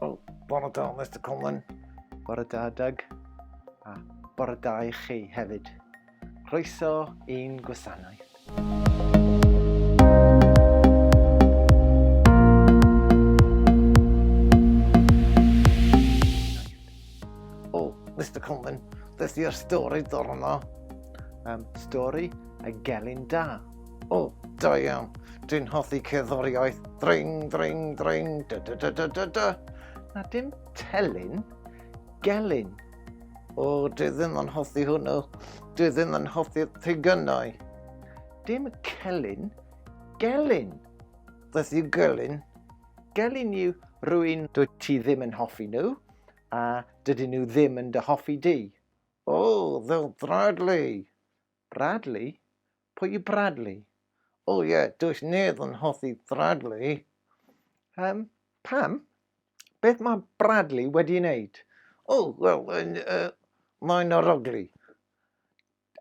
O, bore da, Mr Coleman. Bore da, Doug. A bore da i chi hefyd. Croeso i'n gwasanaeth. O, Mr Coleman, beth yw'r stori dorno? Um, stori a gelyn da. O, oh, da iawn. Dwi'n hoffi cerddoriaeth. Dring, dring, dring, da da da da da da. Na dim telyn, gelyn. O, oh, dwi ddim yn hoffi hwnnw. Dwi ddim yn hoffi pigynau. Dim celyn, gelyn. Beth yw gelyn? Gelyn yw rwy'n dwi ti ddim yn hoffi nhw, a dydyn nhw ddim yn dy hoffi di. O, oh, they'll Bradley. Bradley? Pwy yw Bradley? O ie, does neb yn hoffi Bradley. Um, pam? Beth mae Bradley wedi wneud? O, oh, wel, uh, mae'n aroglu.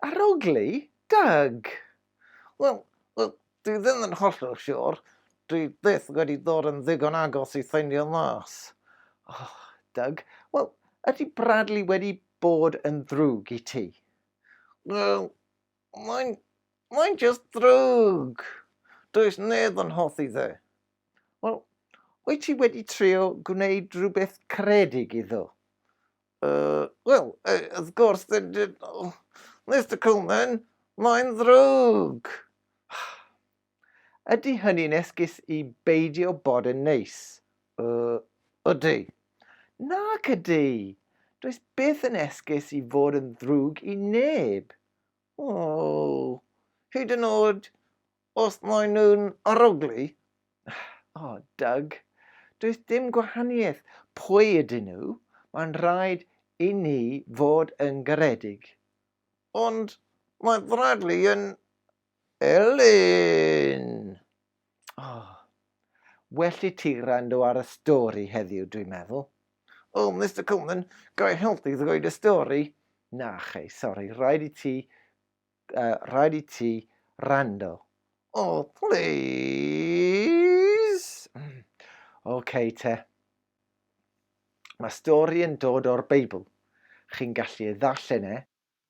Aroglu? Doug! Wel, well, dwi ddim yn hollol siwr. Dwi byth wedi dod yn ddigon agos i ffeindio mas. Oh, Doug, wel, ydy Bradley wedi bod yn ddrwg i ti? Wel, Mae'n... mae'n jyst ddrwg! Does neb yn hoffi fe. Wel, wyt ti wedi trio gwneud rhywbeth caredig iddo? Uh, Wel, uh, wrth gwrs, Mr Coleman, mae'n ddrwg! Ydy hynny'n esgus i beidio bod yn neis? Yy, ydy. Nac ydy! Does byth yn esgus i fod yn ddrwg i neb. O, hyd yn oed os maen nhw'n arogli? O, oh, Doug, does dim gwahaniaeth pwy ydyn nhw, mae'n rhaid i ni fod yn garedig. Ond mae Bradley yn Elin! Oh, well i ti rando ar y stori heddiw, dwi'n meddwl. Oh, Mister Coleman, ga i helpu ddweud y stori? Na, chei, sori, rhaid i ti, uh, rhaid i ti rando. Oh, please! Mm. okay, te. Mae stori yn dod o'r Beibl. Chi'n gallu ei ddarllen e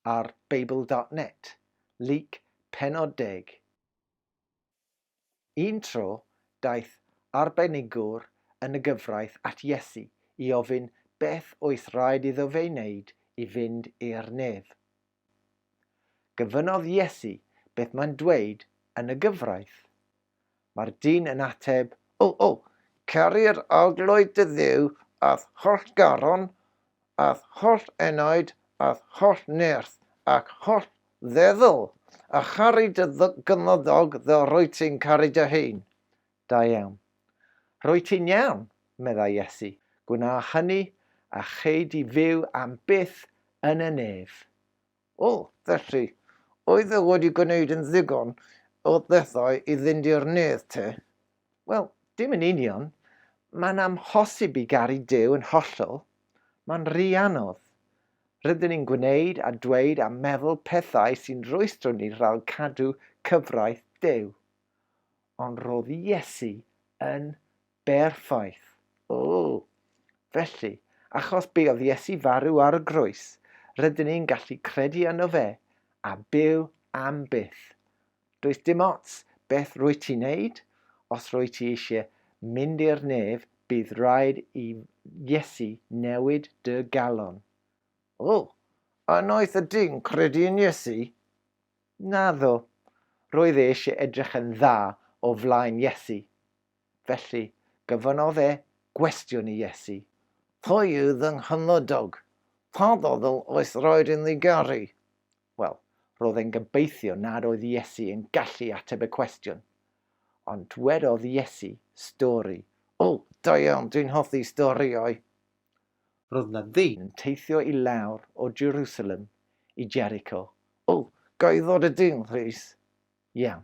ar Beibl dot net, Luc pennod deg. Un tro, daeth arbenigwr yn y gyfraith at Iesu i ofyn beth oedd rhaid iddo fe'i wneud i fynd i'r nef. Gofynnodd Iesu beth mae'n dweud yn y gyfraith. Mae'r dyn yn ateb, O, o, ceir arglwydd dy Dduw a'th holl garon, a'th holl enaid, a'th holl nerth, ac holl feddwl, a charu dy gymydog fel rwyt ti'n caru dy hun. Da iawn. Rwyt ti'n iawn, meddai Iesu. Gwna hynny, a chei di fyw am byth yn y nef. O, felly, oedd e wedi gwneud yn ddigon o bethau i fynd i'r nedd te? Wel, dim yn union. Mae'n amhosib i garu Duw yn hollol. Mae'n rhy anodd. Rydyn ni'n gwneud a dweud a meddwl pethau sy'n rwystro ni rhag cadw cyfraith Duw. Ond roedd Iesu yn Berffaith. O! Felly, achos be oedd Iesu farw ar y groes, rydyn ni'n gallu credu yno fe, a byw am byth. Does dim ots beth rwy ti'n neud, os rwy ti eisiau mynd i'r nef, bydd rhaid i Iesu newid dy galon. O! A noeth ydy'n credu yn Iesu? Naddo. Roedd e eisiau edrych yn dda o flaen Iesu. Felly, gofynnodd e gwestiwn i Iesu. Pwy yw fy nghymydog? Pa ddadl oes raid iddi garu? Wel, roedd e'n gobeithio nad oedd Iesu yn gallu ateb y cwestiwn. Ond dwedodd Iesu, Stori. O, da iawn, dwi'n hoffi storïau! Roedd na ddyn yn teithio i lawr o Jerusalem i Jericho. O, ga i ddod â dyn, plîs? Iawn.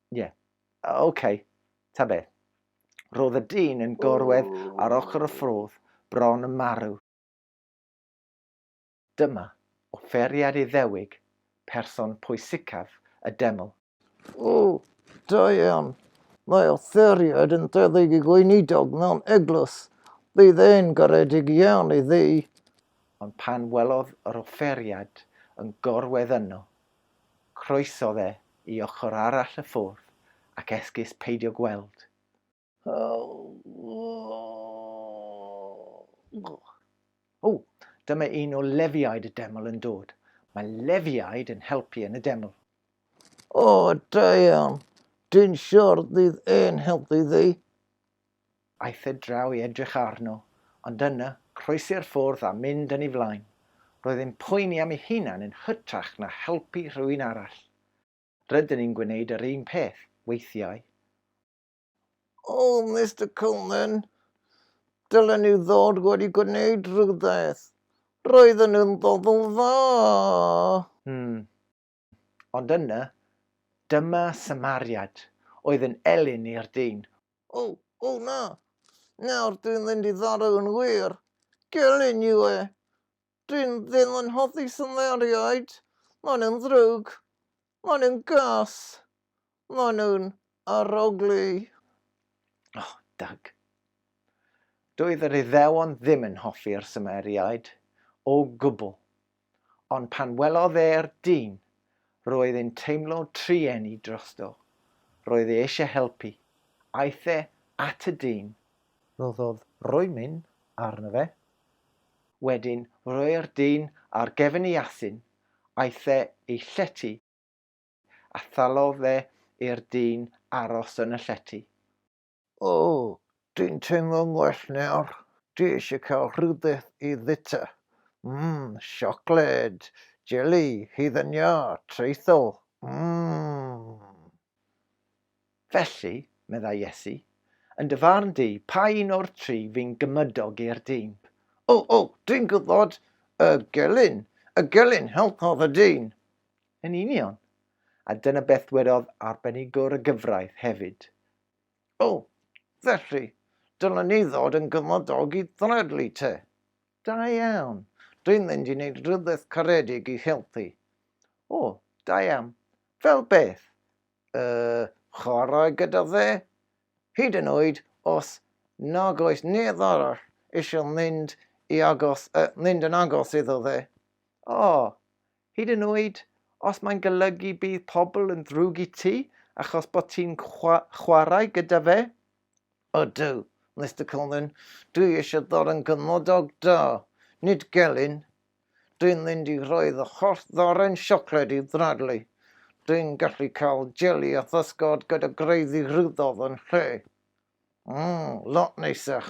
Ie. Yeah. Oce. Okay. Ta be. Roedd y dyn yn gorwedd ar ochr y ffrodd, bron yn marw. Dyma offeriad Iddewig, person pwysicaf y deml. O, da iawn. Mae offeriad yn debyg i gweinidog mewn eglwys. Bydd e'n garedig iawn iddi. Ond pan welodd yr offeriad yn gorwedd yno, Croesodd e i ochr arall y ffwrdd ac esgus peidio gweld. O! Dyma un o Lefiaid y Deml yn dod. Mae Lefiaid yn helpu yn y Deml. O, da iawn. Dyn siardydd yn helpu fi. Aeth e draw i edrych arno, ond yna, croesi'r ffordd a mynd yn ei flaen. Roedd e'n poeni am ei hunan yn hytrach na helpu rhywun arall. Rydyn ni'n gwneud yr un peth, weithiau. O, Mister Coleman, dylen nhw ddod wedi gwneud rhywbeth. Roedden nhw'n bobl dda! Hmm, Ond yna, dyma Samariad oedd yn elyn i'r dyn. O, o na! Nawr dwi'n mynd i farw yn wir! Gelyn yw e! Dwi'n ddim yn hoffi Samariaid! Maen nhw'n ddrwg! Maen nhw'n gas! Maen nhw'n arogli. Oh, Doug. Doedd yr Iddewon ddim yn hoffi'r Sumeriaid o gwbl, ond pan welodd e'r dyn, roedd e'n teimlo trueni drosto. Roedd e eisiau helpu. Aeth e at y dyn. Rhoddodd roemyn arno fe. Wedyn roi'r dyn ar gefn ei asyn. Aeth e i llety. a thalodd fe i'r dyn aros yn y llety. O, dwi'n teimlo'n well nawr. Dwi eisiau cael rhywbeth i fwyta. Mm, siocled, jeli, hufen iâ, traethol, mm! Felly, meddai Iesu, yn dy farn di, pa un o'r tri fu'n gymydog i'r dyn? O, o, dwi'n gwybod, y gelyn, y gelyn helpodd y dyn. Yn union. A dyna beth ddwedodd arbenigwr y gyfraith hefyd. O, felly, dylen ni ddod yn gymydog i ddradlu te. Da iawn. Dwi'n mynd i wneud rhywbeth caredig i helpu. O, da iawn. Fel beth? y chwarae gyda fe, hyd yn oed os nag oes neb arall eisiau mynd i agos, uh, mynd yn agos iddo fe. O, oh, hyd yn oed os mae'n golygu bydd pobl yn ddrwg i ti achos bod ti'n chwarae gyda fe? O dw, Mr Coleman, dwi eisiau ddod yn gymodog da, nid gelyn. Dwi'n mynd i rhoi fy holl ddoren siocled i Bradley. Dwi'n gallu cael jeli a physgod gyda greiddi ruddof yn lle. Mmm, lot neisach.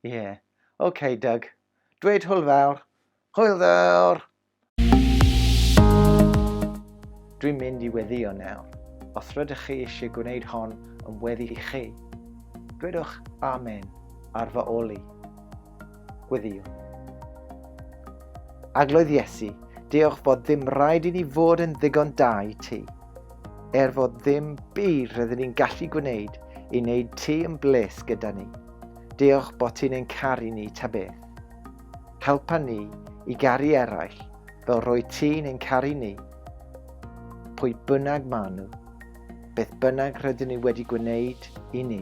Ie. OK, Doug. Dweud hwyl fawr. Hwyl fawr! Dwi'n mynd i weddio nawr. Os rydych chi eisiau gwneud hon yn weddi i chi, dwedwch Amen ar fy ol i. Gweddïo. Agloedd Iesu, diolch fod ddim rhaid i ni fod yn ddigon da i ti. Er fod ddim byd rydyn ni'n gallu gwneud i wneud ti yn bles gyda ni. Diolch bod ti'n ein caru ni ta beth. Helpa ni i garu eraill fel roi ti'n ein caru ni. Pwy bynnag maen nhw, beth bynnag rydyn ni wedi gwneud i ni.